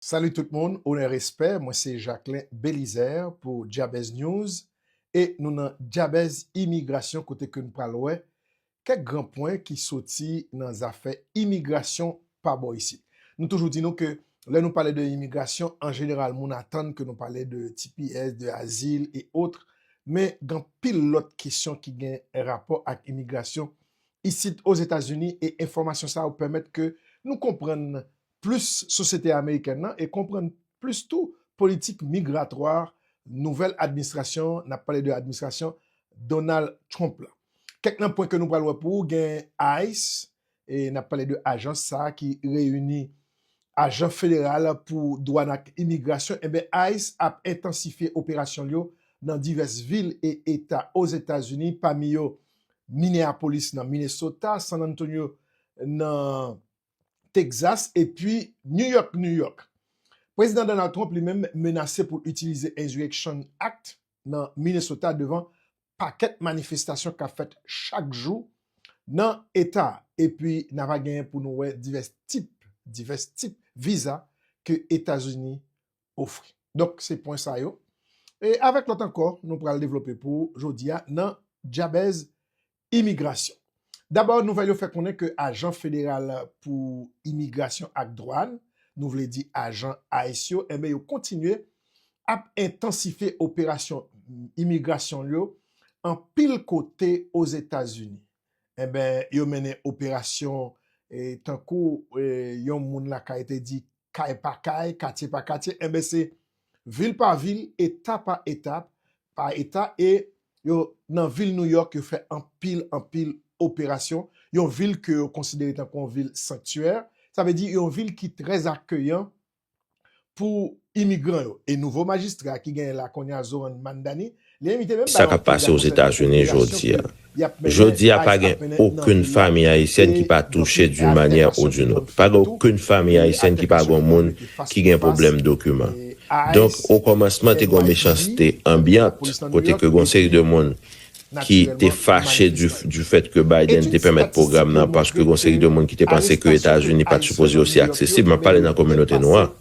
Salut tout moun onè respè mwen se Jacquelin Belizaire pou Dyabèz News e nou nan Dyabèz Imigrasyon kote ke nou pral wè kèk gran pwen ki soti nan zafè imigrasyon pa bò isit. Nou toujou di nou ke lè nou pale de imigrasyon an jeneral moun atann ke nou pale de tps, de azil e otre men gan pil lòt kesyon ki gen rapò ak imigrasyon isit Ozetazini e enfòmasyon sa yo pèmèt ke nou konprann plis sosyete amerikèn nan e konprann plis tou politik migratwa nouvèl administrasyon, n ap pale de administrasyon Donald Trump la. Kèk nan pwen ke nou pral wè pou ou gen ice, e n ap pale de ajans sa ki reyini ajan federal pou dwàn ak imigrasyon, enben ice ap entansifye operasyon l yo nan divès vil e eta Ozetazini pami yo Minneapolis nan Minnesota, San Antonio nan. Texas epi New York, New York. Prezidan Donald Trump li menm menase pou l itilize Insurrection Act nan Minnesota devan pakèt manifestasyon k ap fèt chak jou nan eta a. Epi na va genyen pou nou wè divès tip, divès tip viza ke Etazini ofri. Donk se pwen sa yo e avèk lòt ankò nou pral devlope pou jodi a nan Dyabèz Imigrasyon. Dabò nouvèl yo fè konnen ke ajan federal pou imigrasyon ak dwàn, nou vle di ajan ice yo enben yo kontinye ap entansifye operasyon imigrasyon l yo anpil kote Ozetazini. Enben yo mennen operasyon tankou yon moun lakay te di kay pa kay, katye pa katye enben se. vil pa vil, eta pa eta, pa eta e yo nan vil New York yo fè anpil anpil operasyon, yon vil ke yo konsidere tankou yon vil sanktyè, sa vle di yon vil ki trè akeyan pou imigran yo e nouvo majistra ki genyen la kounye a Zohran Mamdani Sa k ap pase Ozetazini jodi a? Jodi a, pa gen okenn fanmi ayisyèn ki pa touche d'une manière ou d'une autre. Pa gen okenn fanmi ayisyèn ki pa gon moun ki gen pwoblèm dokiman. Donk, okòmansman, te gon mechanste anbyant kote ke gon seri de moun ki te fache du fait ke Biden te pèmèt pwogram nan paske gon seri de moun ki te panse ke Etazini pa t sipoze osi aksesib, m ap pale nan kominote nwa.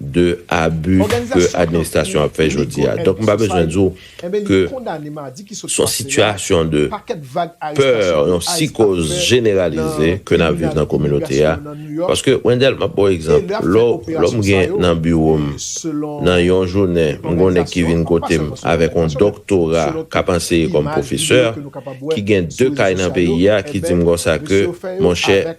de abu ke administrasyon ap fè jodi a. Donk m pa bezwen di w ke s on sitiyasyon de pè, yon sikoz jeneralize ke n ap viv nan kominote a. Paske Wendel, m ap ba w egzanp, lò m gen nan biwo m, nan yon jounen, m gen yon nèg ki vin kote m avèk yon doktora k ap anseye kòm pwofesè, ki gen 2 kay nan peyi a, ki di m konsa ke, monchè,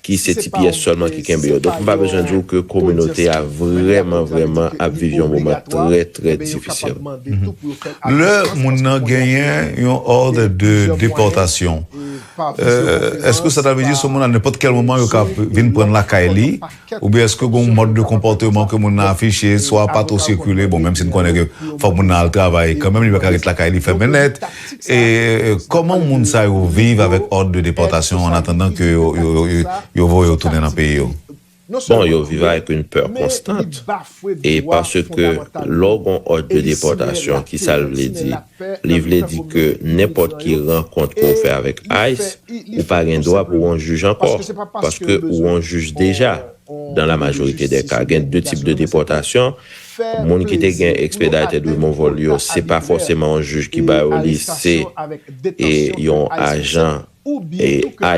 ki se ti pyès sèlman ki kenbe yo. Donk m pa bezwen di w ke kominote a vrèman vrèman ap viv yon moman trè trè difisil. Lè moun nan genyen yon ordre de deportation, èske sa ta vle di se yon moun a nenpòt kèl moman yo ka vin pran l lakay li? Oubyen èske gen yon mòd de konpòteman ke moun nan afiche, swa pa twò sikile, bon menm si n konnen ke fòk moun nan al travay kanmenm, li pa ka ret lakay li fèmen nèt, E kòman moun sa yo viv avèk òd de depòtasyon an atandan ke yo voye yo tounen nan peyi yo? Bon, yo viv avèk yon pè konstant. E paske lè w gon òd de depòtasyon, ki sa l vle di? Li vle di ke nenpòt ki rankont ke w fè avèk ice, ou pa gen dwa pou w yon jij ankò, paske ou yon jij deja. Dan la majorite dè ka, gen de tip de depòtasyon. Moun ki te gen Expedited Removal yo, se pa fòseman yon jij ki ba yo li, se e yon ajan e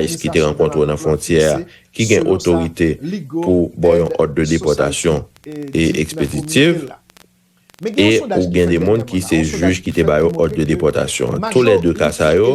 ice ki te rankontre w nan fwontyè a ki gen otorite pou ba w yon òd de depòtasyon e ekspeditiv e ou gen de moun ki se jij ki te ba yo òd de depòtasyon an. Tou lè de ka sa yo,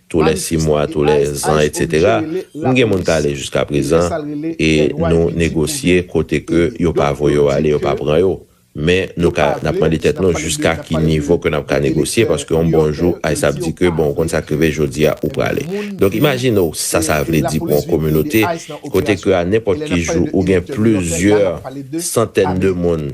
tou lè si mwa, tou lè zan etc. M gen moun kale jiska prezan e nou negosye kote ke yo pa voye yo ale, yo pa pran yo. Men nou ka, n ap mande tèt nou jiska ki nivo ke n ap ka negosye paske yon bon jou ice ap di ke bon ou konn sa k rive jodi a ou prale. Donk imajine w sa sa vle di pou yon kominote kote ke a nenpòt ki jou ou gen plizyè santèn de moun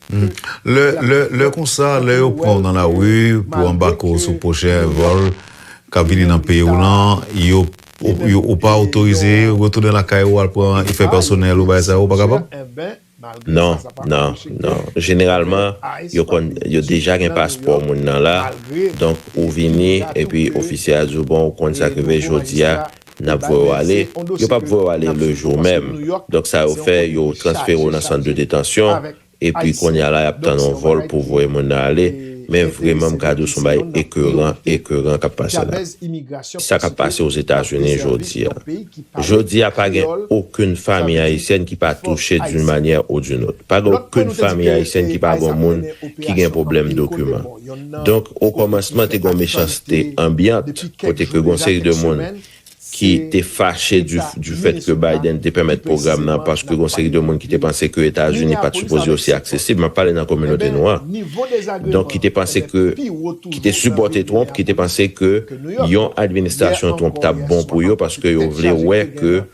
Lè konsa, lè yo pran w nan lari pou anbake w sou pwochen vòl k ap vini nan peyi w lan, ou pa otorize retounen lakay ou al pran efè pèsonèl ou bagay sa yo? Ou pa kapab? Non, non, non. Jeneralman, yo konn, yo deja gen paspò moun nan la, donk ou vini epi ofisye a di w, bon, ou konn sa k rive jodi a, N ap voye w ale, yo p ap voye w ale lejou menm. Donk sa yo fè, yo transfere w nan sant de detansyon, epi kounye a la y ap tann yon vòl pou voye moun nan ale. Men vreman m ka di w s on bagay ekeran, ekeran k ap pase la. Sa k ap pase Ozetazini jodi a. Jodi a pa gen okenn fanmi ayisyèn ki pa touche d'une manière ou d'une autre. Pa gen okenn fanmi ayisyèn ki pa gen yon moun ki gen pwoblèm dokiman. Donk, okòmansman te gen yon mechanste anbyant kote ke gen yon seri de moun ki te fache du fèt ke Biden te pèmèt pwogram nan paske gen yon seri de moun ki te panse ke Etazini pa t sipoze osi aksesib, m ap pale nan kominote nwa, donk ki te panse ke, ki te sipòte Trump, ki te panse ke yon administrasyon Trump t ap bon pou yo paske yo vle wè ke.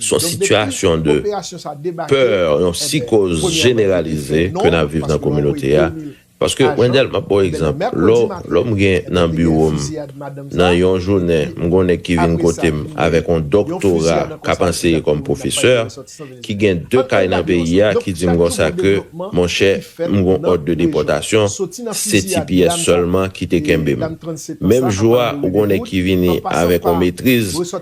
Son sitiyasyon de peur, yon sikoz jeneralize ke nap viv nan kominote a. Paske Wendel map baw egzanp, lè m gen nan biwo m nan yon jounen m gon nèg ki vin kote m avèk yon doktora kap anseye kòm pwofesè, ki gen 2 kay nan peyi a ki di m konsa ke monchè m gon òd de depòtasyon se ti pyès sèlman ki te kenbe m. Menm jou a ou gon nèg ki vini avèk yon metriz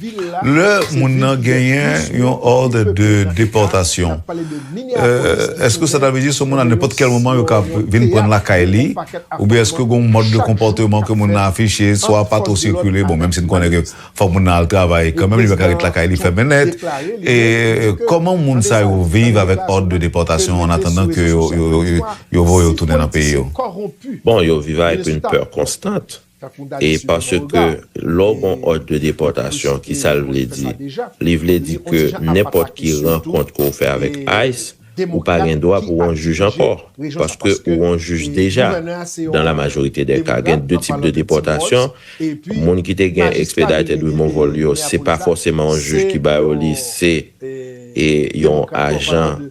Lè moun nan genyen yon òd de depòtasyon, èske sa ta vle di se yon moun a nenpòt kèl moman yo ka vin pran l lakay li? Oubyen èske gen yon mòd de konpòteman ke moun nan afiche, swa pa twò sikile, bon menm si n konnen ke fòk moun nan al travay kanmenm, li pa ka ret lakay li fèmen nèt. E kòman moun sa yo viv avèk òd de depòtasyon an atandan ke yo voye yo tounen nan peyi yo? Bon, yo viv avèk yon pè konstant. E paske lè w gon òd de depòtasyon, ki sa l vle di? Li vle di ke nenpòt ki rankont ke w fè avèk ice, ou pa gen dwa pou w on jij ankò, paske ou on jij deja. Dan la majorite dè ka, gen de tip de depòtasyon, moun ki te gen expedited removal yo, se pa fòseman on jij ki ba yo li, se yon ajan.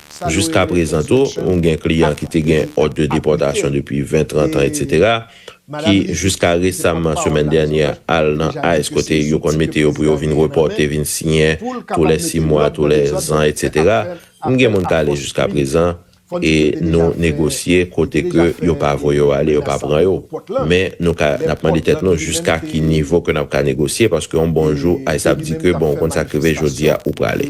Jiska prezan tou, ou gen kliyan ki te gen òd de depòtasyon depi 20, 30 an etc. Ki jiska resamman semèn dènyè al nan ice kote yo konn mete yo pou yo vin repòte, vin siyen tou lè 6 mwa, tou lè zan etc. M gen moun k ale jiska prezan e nou negosye kote ke yo pa voye yo ale, yo pa pran yo. Men nou ka, n ap mande tèt nou jiska ki nivo ke n ap ka negosye paske yon bon jou ice ap di ke bon ou konn sa k rive jodi a ou prale.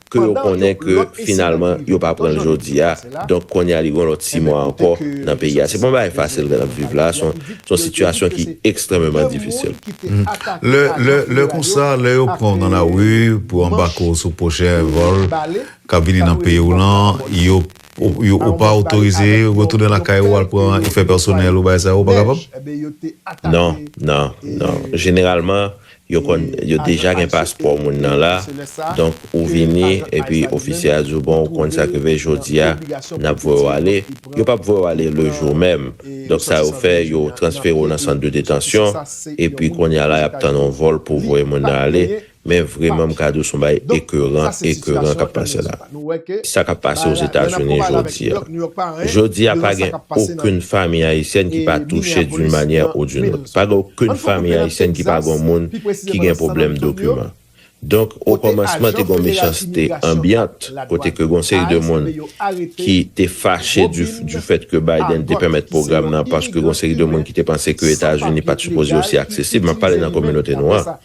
ke yo konnen ke finalman yo pa pran l jodi a, donk kounye a li gen yon lòt 6 mwa ankò nan peyi a. Se pa yon bagay fasil ke n ap viv la, se yon sitiyasyon ki ekstrèmeman difisil. Lè konsa, lè yo pran w nan lari pou anbake w sou pwochen vòl k ap vini nan peyi w lan, ou pa otorize retounen lakay ou al pran efè pèsonèl ou, bagay sa yo, ou pa kapab? Non, non, non. Jeneralman, Yo konn, yo deja gen paspò moun nan la, donk ou vini epi ofisye a di w bon ou konn sa k rive jodi a n ap voye w ale, yo p ap voye w ale le jou menm, donk sa yo fè yo transfere w nan sant de detansyon epi kounye a la y ap tann yon vòl pou voye moun nan ale, men vreman m ka di w s on bagay ekeran, ekeran k ap pase la. Nou wè ke Sa kap pase bagay la lè nap Ozetazini konpare l avèk New jodia. York, New York pa anyen Jodia pa devan sa gen kap pase nan okenn famiy ayisyèn ki pa touche d'une Minneapolis manyè nan ou d'une autre. Queens. Pa gen okenn Ann fè famiy koute nan ayisyèn ki pa Texas, gon moun pi ki presizèman gen nan San pwoblèm Antonio, dokiman. Donk o kote kòmansman te ajan gon federal mechanste imigrasyon ak anbyant kote ladwann ke gon seri de ICE moun mande yo arete ki te fache du Robin du fèt ke Biden te Abbott pèmèt ki se pwogram yon nan paske gon imigran seri de moun Kiben ki te panse ke san Etazini papye pat sipoze legal osi ki aksesib, map pale itilize nan li menm kominote nou apre an. sa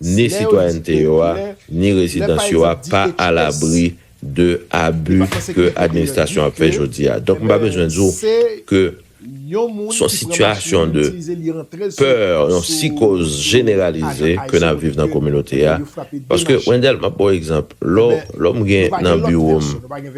ni sitwayènte yo a, ni rezidans yo a pa alabri de abi ke administrasyon ap fè jodi a. Donk m pa bezwen di w ke s on sitiyasyon de pè, yon sikoz jeneralize ke n ap viv nan kominote a. Paske Wendel, m ap ba w egzanp, lè w m gen nan biwo m,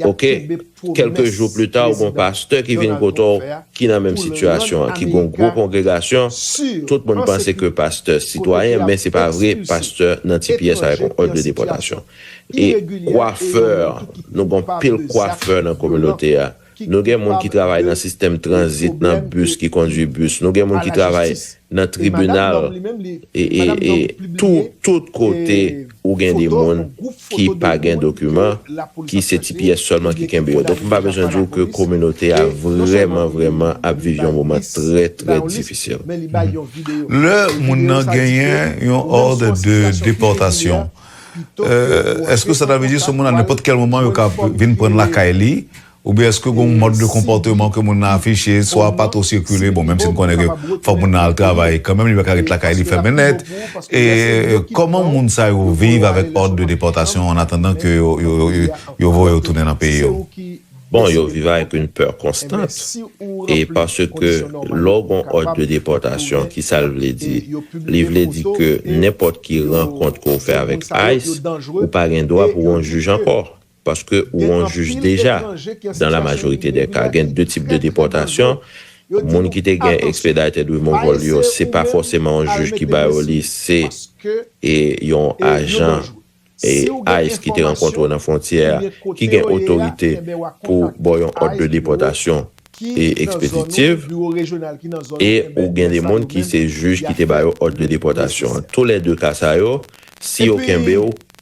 Ok, kèlke jou plita ou gon pastè ki vin kote w ki nan menm sitiyasyon an, ki gon gwo kongregasyon, tout moun panse ke pastè sitwayen, men se pa vre, pastè nan tps avèk yon òd de depòtasyon. E kwafè, nou gon pil kwafè nan kominote a, nou gen moun ki travay nan sistèm tranzit nan bis ki kondwi bis, nou gen moun ki travay. nan tribinal e tout kote ou gen de moun ki pa gen dokiman ki se ti pyès sèlman ki kenbe yo. Donk m pa bezwen di w ke kominote a vrèman vrèman ap viv yon moman trè trè difisil. Lè moun nan genyen yon ordre de deportation, eske sa ta vle di se yon moun a nenpòt kèl moman yo ka vin pran l lakay li? Oubyen èske gen yon mòd de konpòteman ke moun nan afiche, swa pa twò sikile, bon menm si n konnen ke fòk moun nan al travay kanmenm, li pa ka ret lakay li fèmen nèt, e kòman moun sa yo viv avèk òd de depòtasyon an atandan ke yo voye yo tounen nan peyi yo? Bon, yo viv avèk yon pè konstant, e paske lè w gen yon òd de depòtasyon, ki sa l vle di? Li vle di ke nenpòt ki rankont ke w fè avèk ice, ou pa gen dwa pou w yon jij ankò. paske ou on jij deja, dan la majorite dè ka gen de tip de depòtasyon, moun ki te gen expedited removal yo se pa fòseman on jij ki ba yo li se e yon ajan e ice ki te rankontre w nan fwontyè a ki gen otorite pou ba w yon òd de depòtasyon e expeditive e ou gen de moun ki se jij ki te ba yo òd de depòtasyon an tou lè de ka sa yo si yo kenbe w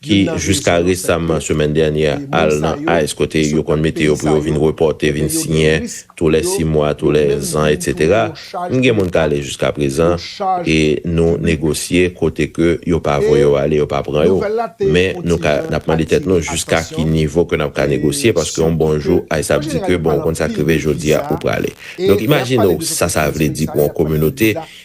ki jiska resamman semèn dènyè al nan ice kote yo konn mete yo pou yo vin repòte vin siyen tou lè 6 mwa tou lè zan etc m gen moun k ale jiska prezan e nou negosye kote ke yo pa voye yo ale yo pa pran yo men nou ka n ap mande tèt nou jiska ki nivo ke n ap ka negosye paske yon bon jou ice ap di ke bon ou konn sa k rive jodi a ou prale donk imajine w sa sa vle di pou yon kominote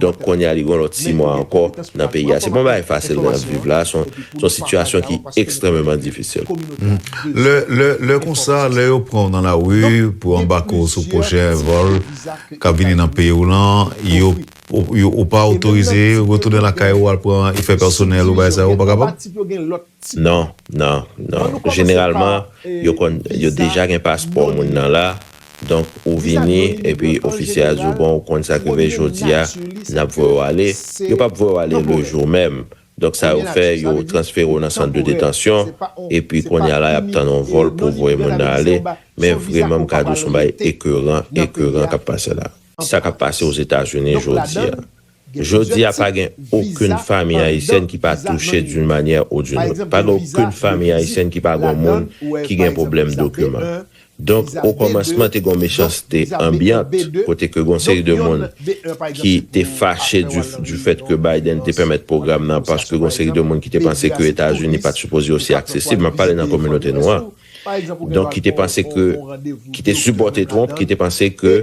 Donk kounye a li gen yon lòt 6 mwa ankò nan peyi a. Se pa yon bagay fasil nan y ap viv la a, se yon sitiyasyon ki ekstrèmeman difisil. Lè konsa, lè yo pran w nan lari pou anbake w sou pwochen vòl k ap vini nan peyi w lan, ou pa otorize retounen lakay ou al pran efè pèsonèl ou, bagay sa yo, ou pa kapab? Non, non, non. Jeneralman, yo konn, yo deja gen paspò moun nan la. Donk ou vini epi ofisye a di w bon ou konn sa k rive jodi a n ap voye w ale, yo p ap voye w ale le jou menm. Donk sa yo fè yo transfere w nan sant de detansyon epi kounye a la y ap tann yon vòl pou voye moun nan ale. Men vreman m ka di w s on bagay ekeran, ekeran k ap pase la. Sa k ap pase Ozetazini jodi a. Jodi a pa gen okenn fanmi ayisyèn ki pa touche d'une manière ou d'une autre. Pa gen okenn fanmi ayisyèn ki pa gon moun ki gen pwoblèm dokiman. Donk o kòmansman te gon mechanste anbyant kote ke gon seri de moun ki te fache du fèt ke Biden te pèmèt pwogram nan paske gon seri de moun ki te panse ke Etazini pat sipoze osi aksesib, map pale nan kominote nwa, donk ki te panse ke, ki te sipòte Trump, ki te panse ke.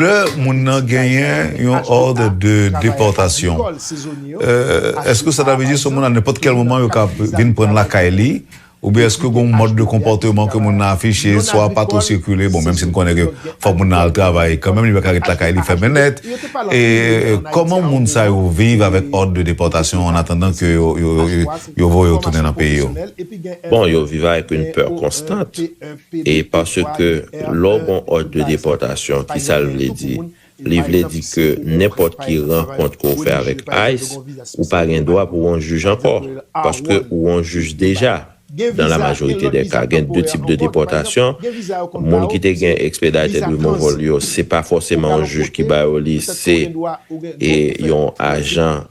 Lè moun nan genyen yon òd de depòtasyon, èske sa ta vle di se yon moun a nenpòt kèl moman yo ka vin pran l lakay li? Oubyen èske gen yon mòd de konpòteman ke moun nan afiche, swa pa twò sikile, bon menm si n konnen ke fòk moun nan al travay kanmenm, li pa ka ret lakay li fèmen nèt, e kòman moun sa yo viv avèk òd de depòtasyon an atandan ke yo voye yo tounen nan peyi yo? Bon, yo viv avèk yon pè konstant. E paske lè w gon òd de depòtasyon, ki sa l vle di? Li vle di ke nenpòt ki rankont ke w fè avèk ice, ou pa gen dwa pou w on jij ankò, paske ou on jij deja. Dans la majorité des cas, gen 2 types de déportation, moun ki te gen expedited removal yo, se pa fòseman on jij ki ba yo li, se yon ajan.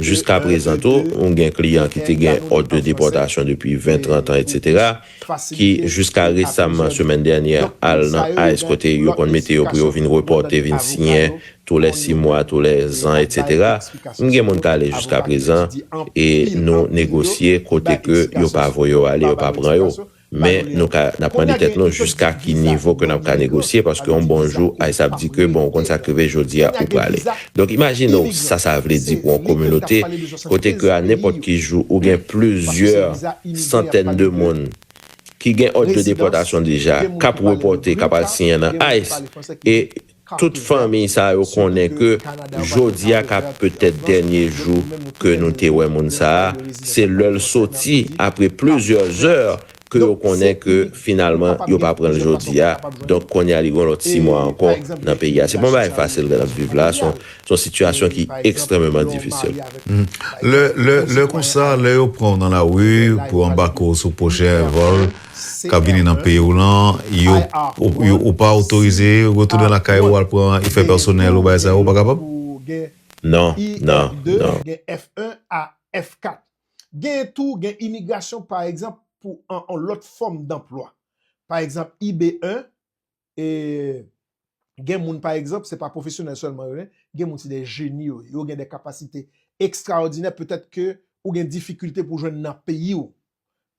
Jiska prezan tou, ou gen kliyan ki te gen òd de depòtasyon depi 20, 30 an etc. Ki jiska resamman semèn dènyè al nan ice kote yo konn mete yo pou yo vin repòte, vin siyen tou lè 6 mwa, tou lè zan etc. M gen moun k ale jiska prezan e nou negosye kote ke yo pa voye yo ale, yo pa pran yo. Men nou ka n ap mande tèt nou jiska ki nivo ke n ap ka negosye paske yon bon jou Ice ap di ke bon ou konn sa k rive jodi a ou prale. Donk imajine w sa sa vle di pou yon kominote kote ke a nenpòt ki jou ou gen plizyè santèn de moun ki gen òd de depòtasyon deja k ap repòte k ap al siyen nan Ice e Tout fanmiy sa yo konnen ke jodia ka petèt dènye jou ke nou te wè moun sa a, se lè l soti apre plizyè zè ke yo konnen ke finalman yo pa pran l jodia, donk konya li gen yon lòt 6 mwa ankò nan peyi a. Se pa yon bagay fasil ke n ap viv la, se yon sitiyasyon ki ekstrèmeman difisil. Lè konsa, lè yo pran w nan lari pou anbake w sou pwochen vòl, kap vini nan peyi w lan yo ou pa otorize retounen lakay ou al pran efè pèsonèl ou bagay sa yo ou pa kapab? Non non non. e gen moun pa egzanp se pa pwofesyonèl sèlman yo ye, gen moun se de jeni yo ye, yo gen de kapasite ekstraòdinè petèt ke ou gen difikilte pou jwenn nan peyi ou.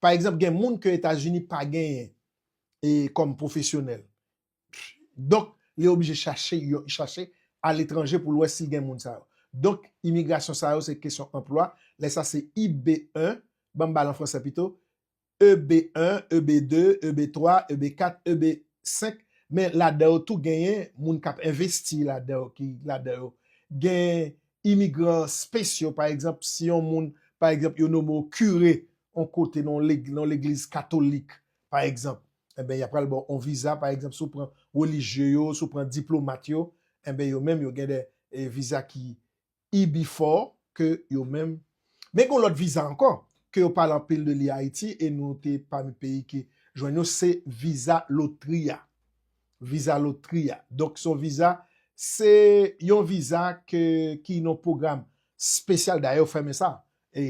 Pa egzanp gen moun ke Etazini pa genyen e kòm pwofesyonèl. Donk li oblije chache yon, chache aletranje pou l wè si l gen moun sa yo. Donk imigrasyon sa yo se kesyon anplwa, lè sa se IB1, ban m ba l an fransè pito, EB 1, EB 2, EB 3, EB 4, EB 5, men ladan yo tou genyen moun k ap envesti ladan yo ki ladan yo. Gen imigran spesyo, pa egzanp, si yon moun, pa egzanp, yo nome w kire yon kote nan yon legliz katolik, pa egzanp, enben y a pral ba w yon viza, pa egzanp, si w pran relijye yo, si w pran diplomat yo, enben yo menm yo gen dè viza ki E-Before ke yo menm. Men gen yon lòt viza ankò ke yo pale anpil de li Ayiti e nou te pami peyi ki jwenn yo, se viza lotri a. Viza lotri a. Donk se yon viza, se yon viza ke ki nan yon pwogram spesyal, dayè yo fèmen sa. e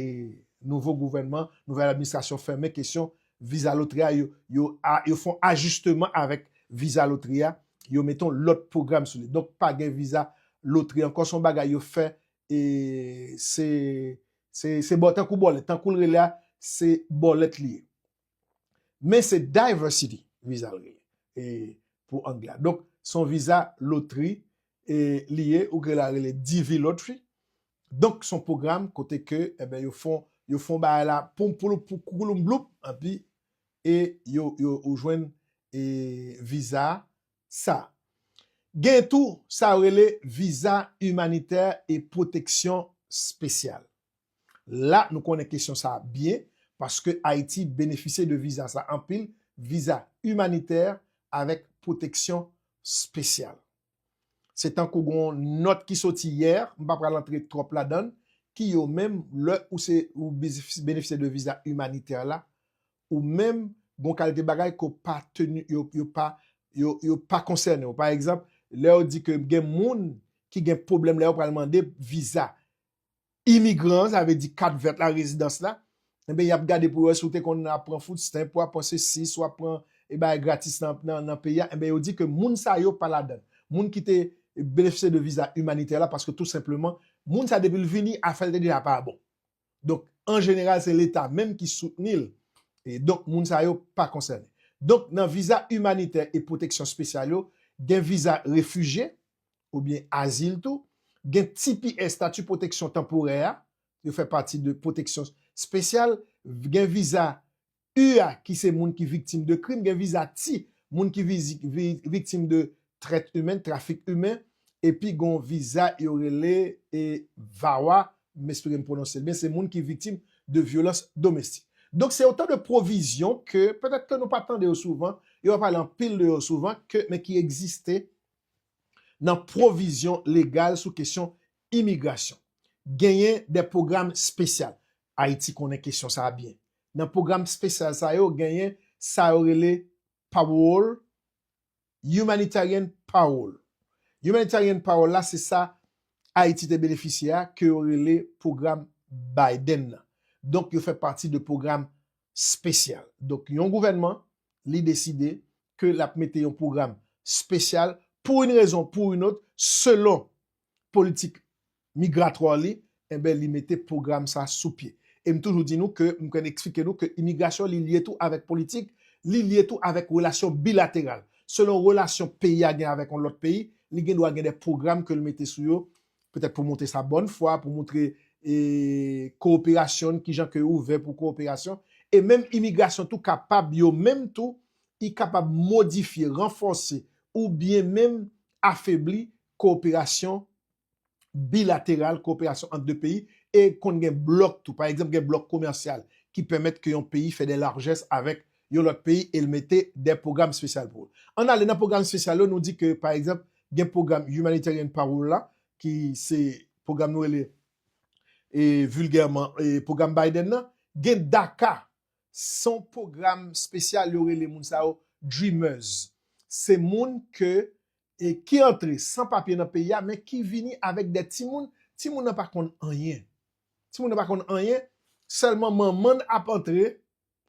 nouvo gouvènman, nouvèl administrasyon fèmen kesyon viza lotri a, yo fon ajisteman avèk viza lotri a, yo mete yon lòt pwogram sou li. Donk pa gen viza lotri ankò, se yon bagay yo fè e se bò tankou bòlèt, tankou l rele a, se bòlèt li ye. Men se diversity viza li ye pou angle a. Donk se yon viza lotri li ye, ou ka rele DV lottery, Donk son pwogram kote ke eben yo fon yo fon bagay la poum pouloup pou koukouloup bloup enpi e yo yo ou jwenn e viza sa. Gen tou sa yo rele viza imanitè e pwoteksyon spesyal. La nou konnen kesyon sa byen paske Ayiti benefisye de viza sa anpil, viza imanitè avèk pwoteksyon spesyal. Se tankou gen yon nòt ki soti yè, m pa pral antre twòp ladan l, ki yo menm lè ou se ou benefisye de viza imanitè la, ou menm gon kalite bagay ke w pa teni, yo pa, yo pa konsène w. Pa egzanp, lè yo di ke gen moun ki gen pwoblèm lè yo pral mande viza, imigran, sa vle di kat vèt la, rezidans la, enben y ap gade pou yo wè si w te konn ap pran food stamp, w ap pran sesi, si w ap pran e bagay gratis nan peyi a, enben yo di ke moun sa yo pa ladan l. Moun ki te benefisye de viza imanitè la paske tou senpleman moun sa depi l vini afè l te deja pa bon. Donk an jeneral se leta menm ki soutni l e donk moun sa yo pa konsène. Donk nan viza imanitè e pwoteksyon spesyal yo gen viza refijye, oubyen azil tou, gen tps, Stati Pwoteksyon Tanporè, a, yo fè pati de pwoteksyon spesyal, gen viza U a ki se moun ki viktim de krim, gen viza T, moun ki viktim de trèt imen, trafik imen, epi gen yon viza yo rele VAWA, m espere m pwononse l byen, se moun ki viktim de vyolans domestik. Donk se otan de pwovizyon ke, petèt ke nou pa tande yo souvan, yo pa pale anpil de yo souvan, ke men ki egziste nan pwovizyon legal sou kesyon imigrasyon. Genyen de pwogram spesyal, Ayiti konnen kesyon sa a byen, nan pwogram spesyal sa yo genyen sa yo rele Parole, Humanitarian Parole. Humanitarian Parole la se sa Ayiti te benefisye a ke yo rele pwogram Biden nan. Donk yo fè pati de pwogram spesyal. Donk yon gouvènman li deside ke lap mete yon pwogram spesyal pou yn rezon pou yn ot selon politik migratwar li enben li mete pwogram sa sou pye. Em toujou di nou ke m kwen eksplike nou ke imigrasyon li lye tou avèk politik, li lye tou avèk relasyon bilateral. Selon relasyon peyi a gen avèk yon lòt peyi, li gen dwa gen de pwogram ke l mete sou yo petèt pou montre sa bòn fwa, pou montre kowoperasyon n, kijan ke yo ouvè pou kowoperasyon, e menm imigrasyon tou kapab yo menm tou, y kapab modifye, ranfòse, ou byen menm afebli kowoperasyon bilateral, kowoperasyon ant de peyi, e konn gen blòk tou, pa egzanp gen blòk komèsyal ki pèmèt ke yon peyi fè de larjès avèk yon lòt peyi e l mete dè pwogram spesyal pou l. An n ale nan pwogram spesyal yo, nou di ke pa egzanp gen pwogram Humanitarian Parole la ki se pwogram nou rele vilgèman pwogram Biden nan, gen DACA, s on pwogram spesyal yo rele moun sa yo Dreamers. Se moun ke ki antre san papye nan peyi a men ki vini avèk dè timoun, timoun nan pa konn anyen, timoun nan pa konn anyen sèlman manman n ap antre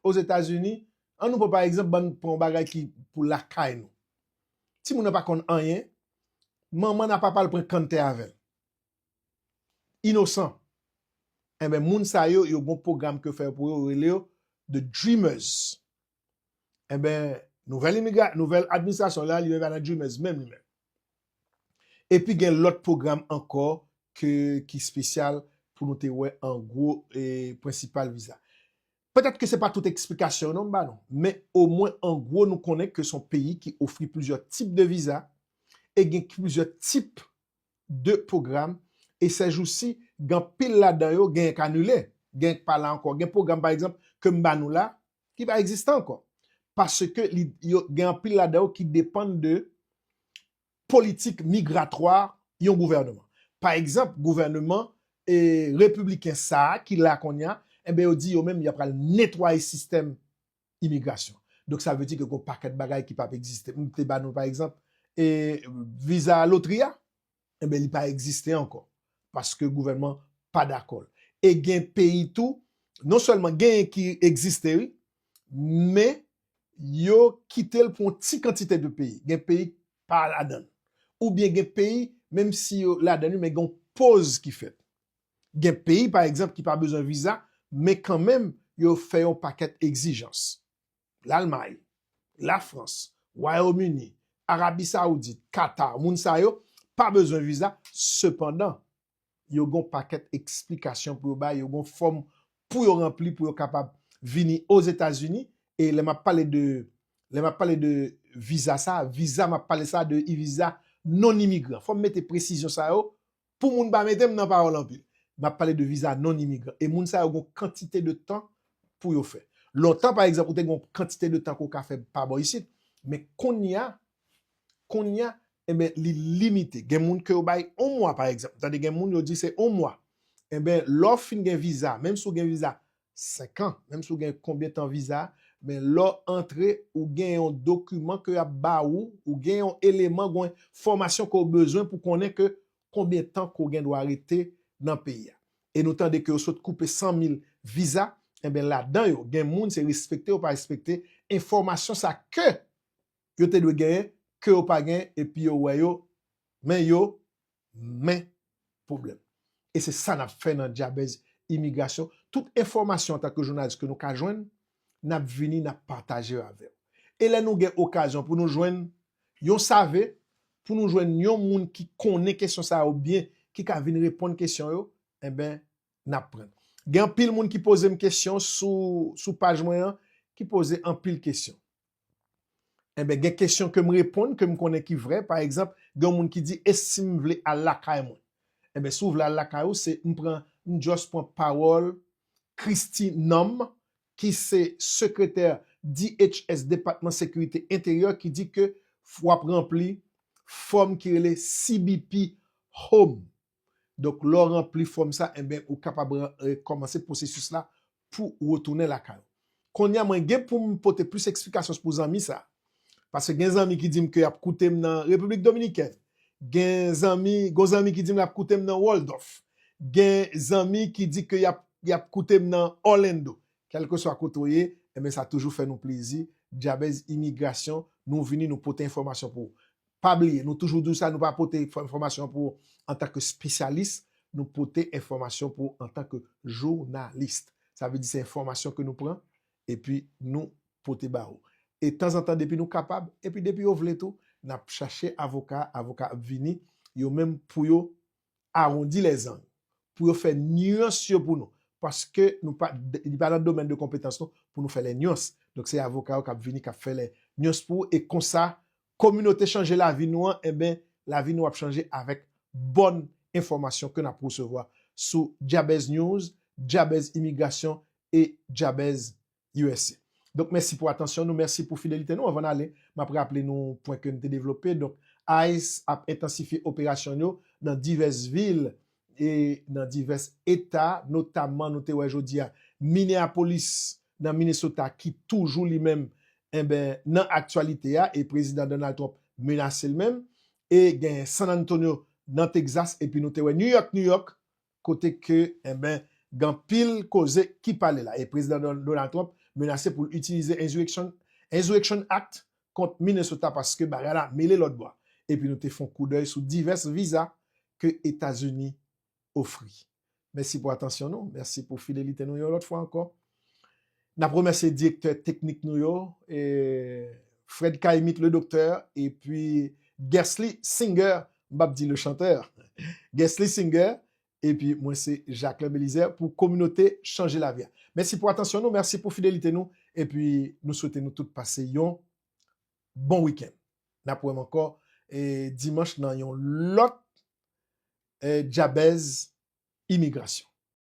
Ozetazini, an nou pran pa egzanp, ban pran yon bagay ki pou lakay nou. Timoun nan pa konn anyen, manman l a papa l pran kann tè avè l. Inosan. Enben moun sa yo, yo gon pwogram ke yo fè pou yo, yo rele yo the dreamers. Enben nouvèl imigra, nouvèl administrasyon la li menm pa nan dreamers menm li menm. Epi gen lòt pwogram ankò ke ki espesyal pou nou te wè an gwo e prensipal viza. Petèt ke se pa tout eksplikasyon yo non m ba nou, men omwen an gwo nou konnen ke son peyi ki ofri plizyè tip de viza e gen plizyè tip de pwogram e sèjousi gen anpil ladan yo genyen k anile, genyen k pa la ankò. Gen pwogram pa egzanp ke m ba nou la ki pa egziste ankò. Paske li yo gen anpil ladan yo ki depann de politik migratwa yon gouvèneman. Pa egzanp, gouvèneman e repibliken sa a ki la kounye a, enben yo di yo menm y ap pral netwaye sistèm imigrasyon. Donk sa vle di ke gen yon pakèt bagay ki p ap egziste. M te ba nou pa egzanp e viza lotri a. enben li pa egziste ankò paske gouvènman pa dakò l e gen peyi tou non sèlman genyen ki egziste wi men yo kite l pou yon ti kantite de peyi gen peyi k pa ladan l oubyen gen peyi menm si yo ladan l men gen yon poz ki fèt gen peyi pa egzanp ki pa bezwen viza men kanmenm yo fè yon pakèt egzijans. Lalmay, Lafrans, Wayom Ini, Arabi Saoudit, Katar, moun sa yo pa bezwen viza, sepandan, yo gen yon pakèt eksplikasyon pou yo bay, yo gen yon fòm pou yo ranpli pou yo kapab vini Ozetazini, e lè m ap pale de, lè m ap pale de viza sa, viza m ap pale sa de viza non-imigran. Fò m mete presizyon sa yo Pou moun pa mete m nan pawòl anpil. M ap pale de viza non-imigran. E moun sa yo gen yon kantite de tan pou yo fè. Lontan, pa egzanp, ou te gen yon kantite de tan ke w ka fè pa bò isit. Men kounya, kounya, enben, li limite. Gen moun ke yo bay yon mwa, pa egzanp. M tande gen moun yo di se yon mwa. Enben, lè w fin gen viza, menm si w gen viza 5 ans menm si w gen konbyen tan viza men lè w antre ou gen yon dokiman ke yap ba ou ou gen yon eleman gwen fòmasyon ke w bezwen pou konnen ke konbyen tan ke w gen dwa rete nan peyi a e nou tande ke yo sot koupe 100 mil viza enben ladan yo gen moun se respekte yo pa respekte enfòmasyon sa ke yo te dwe genyen ke yo pa genyen epi yo wè yo men yo men pwoblèm. E se sa n ap fè nan Dyabèz Imigrasyon. Tout enfòmasyon an tan ke jounalis ke nou ka jwenn, n ap vini n ap pataje yo avè w. E lè nou gen okazyon pou nou jwenn yon save, pou nou jwenn yon moun ki konnen kesyon sa yo byen, ki ka vin reponn kesyon yo, enben n ap pran. Gen anpil moun ki poze m kesyon sou paj mwen an, ki poze anpil kesyon. Enben gen kesyon ke m reponn ke m konnen ki vrè, pa egzanp gen yon moun ki di e si m vle al lakay mwen? Enben si w vle al lakay ou se m pran m just pran pawòl Kristi Nam ki se sekretè DHS, Depatman Sekirite Enteryè ki di ke w ap ranpli fòm ki rele CBP Home. Donk lè w ranpli fòm sa, enben ou kapab kòmanse pwosesis la pou ou retounen lakay ou. Kounye a mwen gen pou m pote plis eksplikasyon pou zanmi sa, paske gen zanmi ki di m ke y ap koute m nan Repiblik Dominikèn, gen zanmi, gon zanmi ki di m l ap koute m nan Wòldòf, gen zanmi ki di ke y ap koute m nan Òlendo. Kèlkeswa kote ou ye, enben sa toujou fè nou plezi, Djabèz Imigrasyon, nou vini nou pote enfòmasyon pou ou. Pa bliye, nou toujou di w sa, nou pa pote enfòmasyon pou w antanke spesyalis, nou pote enfòmasyon pou w antanke jounalis. Sa vle di se enfòmasyon ke nou pran epi nou pote ba ou. E tanzantan depi nou kapab, epi depi yo vle tou, n ap chache avoka, avoka ap vini yo menm pou yo awondi lèzang pou yo fè nuans yo pou nou paske nou pa li pa nan domèn de konpetans nou pou nou fè lè nuans donk se avoka yo kap vini kap fè lè nuans pou ou e konsa kominote chanje lavi nou an enben lavi nou ap chanje avèk bòn enfòmasyon ke nap resevwa sou Djabèznews, Djabèz Imigrasyon e Djabèz usa. Donk mèsi pou atansyon nou, mèsi pou fidelite nou. Anvan n ale, m ap raple nou pwen ke n te devlope. Donk ice ap entansifye operasyon yo nan divès vil e nan divès eta, notamman nou te wè jodi a Minneapolis nan Minnesota ki toujou li menm enben nan aktyalite a e Prezidan Donald Trump menase l menm e genyen San Antonio nan Texas epi nou te wè New York, New York, kote ke enben gen anpil koze ki pale la e Prezidan Donald Trump menase pou l itilize Insurrection Act kont Minnesota paske bagay la mele lòtbò a. Epi nou te fon koudèy sou divès viza ke Etazini ofri. Mèsi pou atansyon nou, mèsi pou fidelite nou yon lòt fwa ankò. Nap remèsye direktè teknik nou yo, Fred Kaimit le docteur epi Guesly Singer, m pap di le chanteur, Guesly Singer epi mwen se Jaclin Belizaire pou kominote chanje lavi a. Mèsi pou atansyon nou, mèsi pou fidelite nou epi nou swete nou tout pase yon bon wikenn. Nap wè m ankò dimanch nan yon lòt Djabèz Imigrasyon.